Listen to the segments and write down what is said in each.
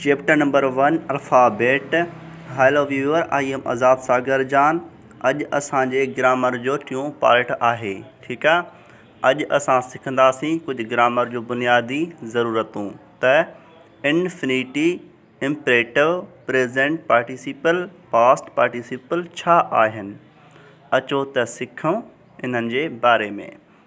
Chapter number one alphabet hello viewer I am Azad Sagar جان اڄ اسان جي گرامر جو ٽيون پارٽ آهي ٺيڪ آ اڄ اسان سکنداسين ڪجهه گرامر جون بنيادي ضرورتون ته infinitive imperative present participle past participle ڇا آهن اچو ته سکون انهن جي باري ۾.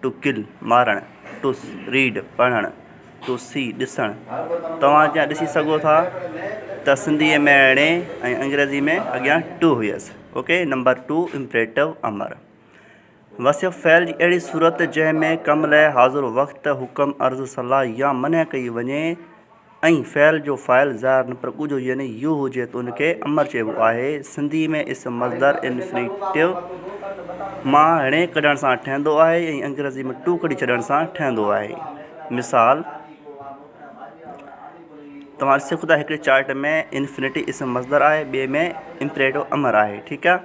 ٽو ڪل، مارڻ، To read، پڙهڻ، To see، ڏسڻ، توهان جيئن ڏسي سگهو ٿا ته سنڌيء ۾ اڻي ۽ انگريزيء ۾ اڳيان ٽو هيس اوڪي نمبر ٽو امپريٽو امر وصف فعل جي اهڙي صورت جنهن ۾ ڪم لئه حاضر وقت حڪم عرض صلاح يا منع ڪئي وڃي ۽ فعل جو فاعل ظاهر نه پر ڳجهو يعني يو هجي ته ان کي امر چئبو آهي. سنڌي ۾ اسم مصدر، Infinitive، مان ڻي ڪڍڻ سان ٺهندو آهي ۽ انگريزي ۾ ٽو ڪڍي ڇڏڻ سان ٺهندو آهي. مثال، توهان ڏسي سگهو ٿا هڪڙي چارٽ ۾ Infinity اسم مصدر آهي ٻئي ۾ Imperative امر آهي ٺيڪ آ.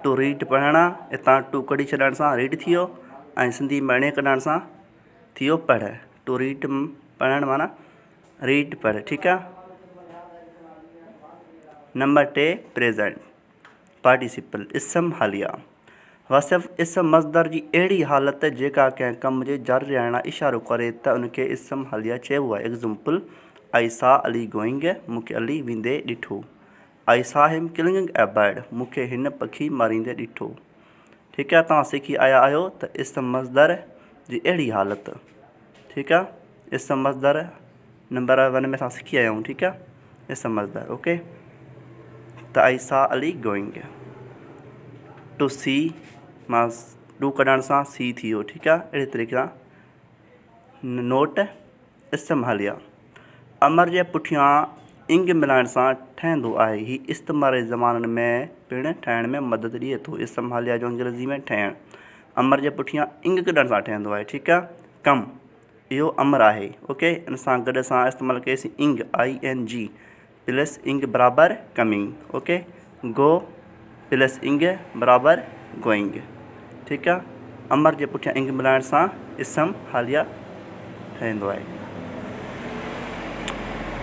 To read پڙهڻ آ اتان ٽو ڪڍي ڇڏڻ سان ريڊ ٿي ويو ۽ سنڌي ۾ ڻي ڪڍڻ سان ٿيو پڙهه ٽو ريڊ پڙهڻ معنيٰ ريڊ پڙهه ٺيڪ آ نمبر ٽي پريزنٽ پارٽيسپل اسم حاليه وصف اسم مصدر جي اهڙي حالت جيڪا ڪنهن ڪم جي جاري رهڻ لاء اشارو ڪري ته ان کي اسم حاليه چئبو آهي ايگزمپل آئي سا علي گوئنگ مون کي علي ويندي ڏٺو آئي سا هيم ڪلنگنگ اي برڊ مون کي هن پکي ماريندي ڏٺو. ٺيڪ آ توهان سکي آيا آهيو ته اسم مصدر جي اهڙي حالت. ٺيڪ آ اسم مصدر نمبر ون ۾ اسان سکي آيا آهيون ٺيڪ آ اسم مصدر اوڪي ته I saw Ali going to see مان ڏو ڪڍڻ سان سي ٿي ويو ٺيڪ آ اهڙي طريقي سان نوٽ استعماليه امر جي پٺيان انگ ملائڻ سان ٺهندو آهي. هي استعماري زمانن ۾ پڻ ٺهڻ ۾ مدد ڏئي ٿو. استعماليه جو انگريزي ۾ ٺهڻ امر جي پٺيان انگ ڪڍڻ سان ٺهندو آهي. ٺيڪ آهي. ڪم، اهو امر آهي. اوڪي، ان سان گڏ اسان استعمال ڪيسين ing, I N G. Plus ing برابر coming okay go plus ing برابر گوئنگ ٺيڪ آ امر جي پٺيان انگ ملائڻ سان اسم حاليه ٺهندو آهي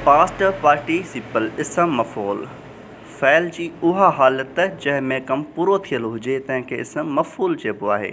پاسٽ پارٽيسيپل اسم مفعول فعل جي اها حالت جنهن ۾ ڪم پورو ٿيل هجي تنهن کي اسم مفعول چئبو آهي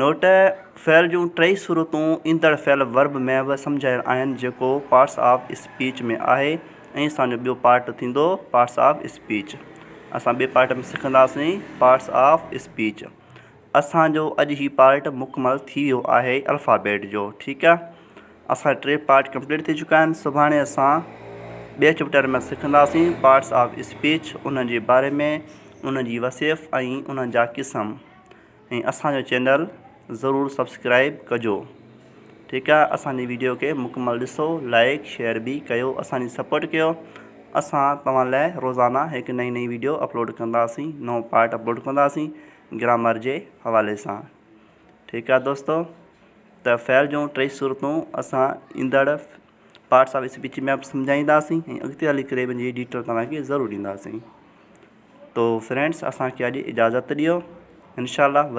نوٽ، فعل جون ٽئي صورتون ايندڙ فعل ورب ۾ به سمجهايل آهن جيڪو پارٽس آف اسپيچ ۾ آهي ۽ اسان جو ٻيو پارٽ ٿيندو پارٽس آف اسپيچ اسان ٻئي پارٽ ۾ سکنداسين پارٽس آف اسپيچ اسان جو اڄ هي پارٽ مڪمل ٿي ويو آهي الفابيٽ جو ٺيڪ آهي اسان جا ٽي پارٽ ڪمپليٽ ٿي چڪا آهن سڀاڻي اسان ٻئي چئپٽر ۾ سکنداسين پارٽس آف اسپيچ انهن جي باري ۾ انهن جي وصيف ۽ انهن جا قسم ۽ اسانجو چينل ضرور سبسڪرائب ڪجو ٺيڪ آهي اسانجي ويڊيو کي مڪمل ڏسو لائڪ شيئر به ڪيو اسانجي سپورٽ ڪيو اسان توهان لاء روزانه هڪ نئي نئي ويڊيو اپلوڊ ڪنداسين نئون پارٽ اپلوڊ ڪنداسين گرامر جي حوالي سان ٺيڪ آ دوستو ته فعل جون ٽي صورتون اسان ايندڙ پارٽس آف اسپيچ ۾ سمجھائينداسين ۽ اڳتي هلي ڪري ان جي ڊيٽيل توهان کي ضرور ڏينداسين تو فرينڊس اسان کي اڄ اجازت ڏيو انشاء الله